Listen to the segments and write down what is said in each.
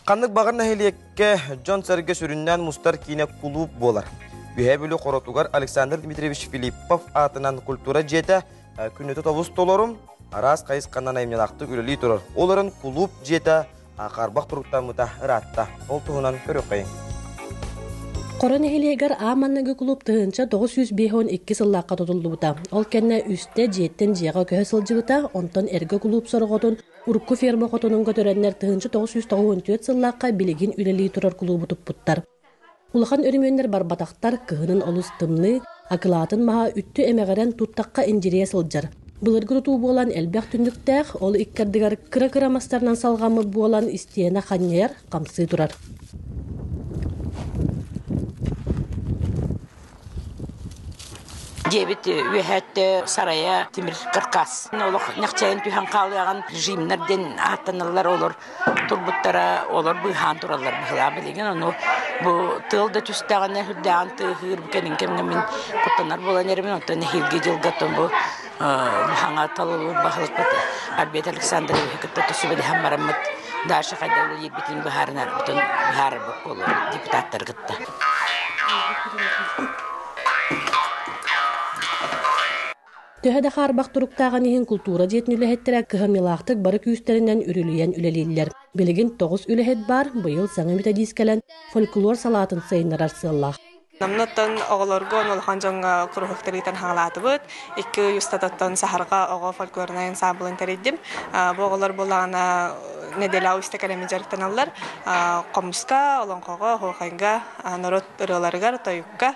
Ханнык баҕар нэһилиэккэ дьон-сэргэ сүрүннээн мустар киинэ кулууп буолар. Үөһээ Бүлүү Хоротугар Александр Дмитриевич Филиппов аатынан культура дьиэтэ э, күннэтэ тобус толорум, араас хайысханан айымньылаахтык үлэлии турар. Ол эрэн кулууп дьиэтэ харбах туруктаммыта ыраатта. Ол туһунан көрүөххэйиҥ. Хоро нэһилиэгэр аан манныгы кулууп тыһыынча тоҕус сүүс биэс уон икки сыллаахха тутуллубута. Ол кэннэ үстэ дьиэттэн дьиэҕэ көһө сылдьыбыта, онтон эргэ кулууп сороҕотун урукку ферма хотонун көтөрөннөр тыһыынча тоҕус сүүс тоҕус он түөрт сыллаахха билигин үлэлии турар кулуубу туппуттар. Улахан өрөмүөннэр барбатахтар, кыһынын олус тымныы, акылаатын маһа үттү эмэҕирэн туттахха индирийэ сылдьар. Былыргы тутуу буолан элбэх түннүктээх, ол икки ардыгар кыра-кыра мастарынан салҕаммыт буолан, истиэнэ ханньайар, хамсыы турар. Дьиэбит үөһэ өттө сарайа тимир каркас. Олох ньахчайан түһэн хаалыаҕын режимнэр диэн ааттаналлар олор. турбуттара олор быыһаан тураллар быһылаан билигин ону бу тыал да түстэҕинэ үрдээҕин тыаһыыр бу кэлин кэмҥэ мин куттанар буолан эрэмин оттон нэһиилги дьылга оттон бу хаҥа талылыыр баһылыкпыт Альберт Александровиһы кытта түсүбэлэһэн бараммыт Даша хайдах үлэлиирбитин быһаарынарбытын быһаарарбыт буолуо депутаттары кытта Төһө да хаарбах туруктааҕын иһин култуура дьиэтин үлэһиттэрэ кыһамньылаахтык бары күүстэринэн үрүлүйэн үлэлииллэр. Билигин тоҕус үлэһит баар быйыл саҥа методист кэлэн фольклор салаатын сайыннарар сыаллаах. Намнаттан оҕолорго улахан дьоҥҥо кружоктар ыытан хаалаатыбыт. Икки ый устатыттан саһарга оҕо фольклорнай ансаабылын тэрийдим. Бу оҕолор буолаҕына неделя уста кэлэми дьарыктаналлар. Хомуска, олоҥхоҕо, оһуохайга, норуот ырыаларыгар, тойукка,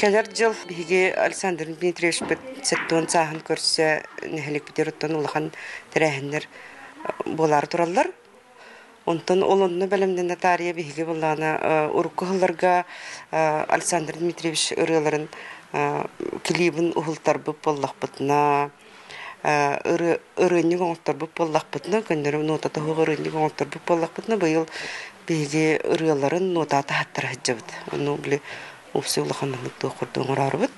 Кэлэр дьыл биһиги Александр Дмитриевичпыт сэттион сааһын көрсө нэһиликпитигэр оттон улахан тэрээһиннэр буолаары тураллар. Онтон ол онно бэлэмнэнэ таарыйа биһиги буоллаҕына урукку сылларга Александр Дмитриевич ырыаларын клибын уһултарбыт буоллахпытына ырыынньык оҥорторбут буоллахпытына, көннөрү нотата суох ырыынньык оҥорторбут буоллахпытына, быйыл биһиги ырыаларын нотаа таһаттара сылдьабыт. Ону били упса улахан маннык туох курдук оҥороорубут.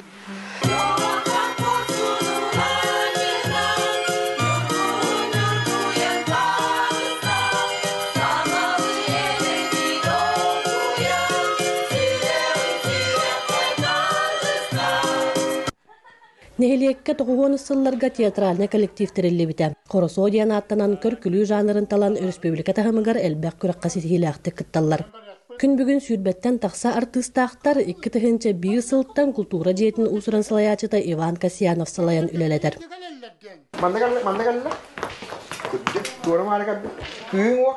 Нэһилиэккэ тоҕуһуонус сылларга театральнай коллектив тэриллибитэ. Хоросоо диэн ааттанан көркүлүү жанрын талан өрөспүүбүлүкэ таһымыгар элбэх күрэххэ ситиһиилээхтик кытталлар. Күн бүгүн сүүрбэттэн тахса артыыстаахтар икки тыһыынча биир сылтан култуура дьиэтин уусуран салайааччыта Иван Касьянов салайан үлэлэтэр. Манна кэллэ, манна кэллэ. Кырдык, туора маары кэллэ. Кыыҥ уох.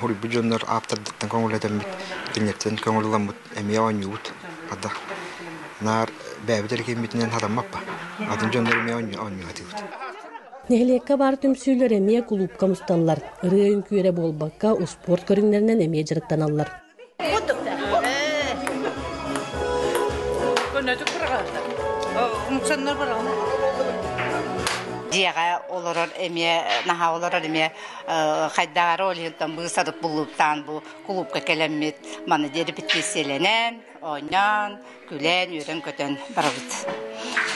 Суруйбут дьоннор ааптардыттан көҥүл этэммит, тиҥҥэттэн көҥүлламмыт эмиэ оонньуубут. Хата, наар бэйэбит эрэ кииммитинэн хатаммаппа, атын дьоннор эмиэ оонньуу сатыыбыт. Нэһилиэккэ баар түмсүүлэр эмиэ кулуупка мустанлар, ырыа үҥкүүрэ буолбакка, успуорт көрүҥнэринэн эмиэ дьарыктаналлар. Дьиэҕэ олорор эмиэ наһаа олорор эмиэ хайдаары олиһыттан быысарып буллуктаан бу кулуупка кэлэммит маны диэри петициялэнэн оонньоон күлэн үөрэн-көтөн барабыт.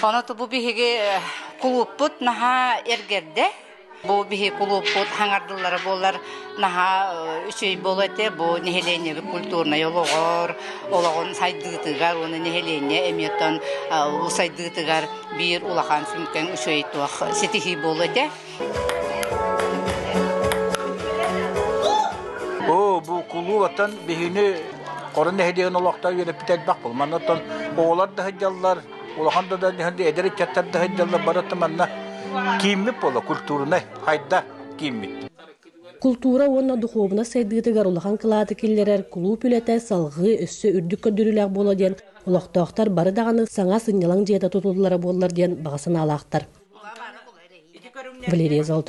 Ону бу биһиги кулууппут наһаа эргэрдэ Бу биһи кулууппут хаҥардыллара буоллар наһаа үчүгэй буолуо этэ. Бу нэһилиэнньэ культурнай олоҕор, олоҕун сайдыытыгар уонна нэһилиэнньэ эмиэтин сайдыытыгар биир улахан сүҥкэн үчүгэй туох ситиһии буолуо этэ. Оо, бу кулуубаттан биһини Хорон нэһилиэгин олохтоо үөрэппит элбэх бұл. Маннаттан оҕолар да сылдьаллар, Улахан да да эдэр ыччаттар да сылдьаллар бары да манна кииммит буола культурнай хайда кииммит култуура уонна духуобунас сайдыытыгар улахан кылааты киллэрэр кулууп үлэтэ салҕыы өссө үрдүк көрдөрүүлээх буола диэн олохтоохтор бары даҕаны саҥа сынньалаҥ дьиэта тутуллара буоллар диэн баҕа санаалаахтар Валерия Золотов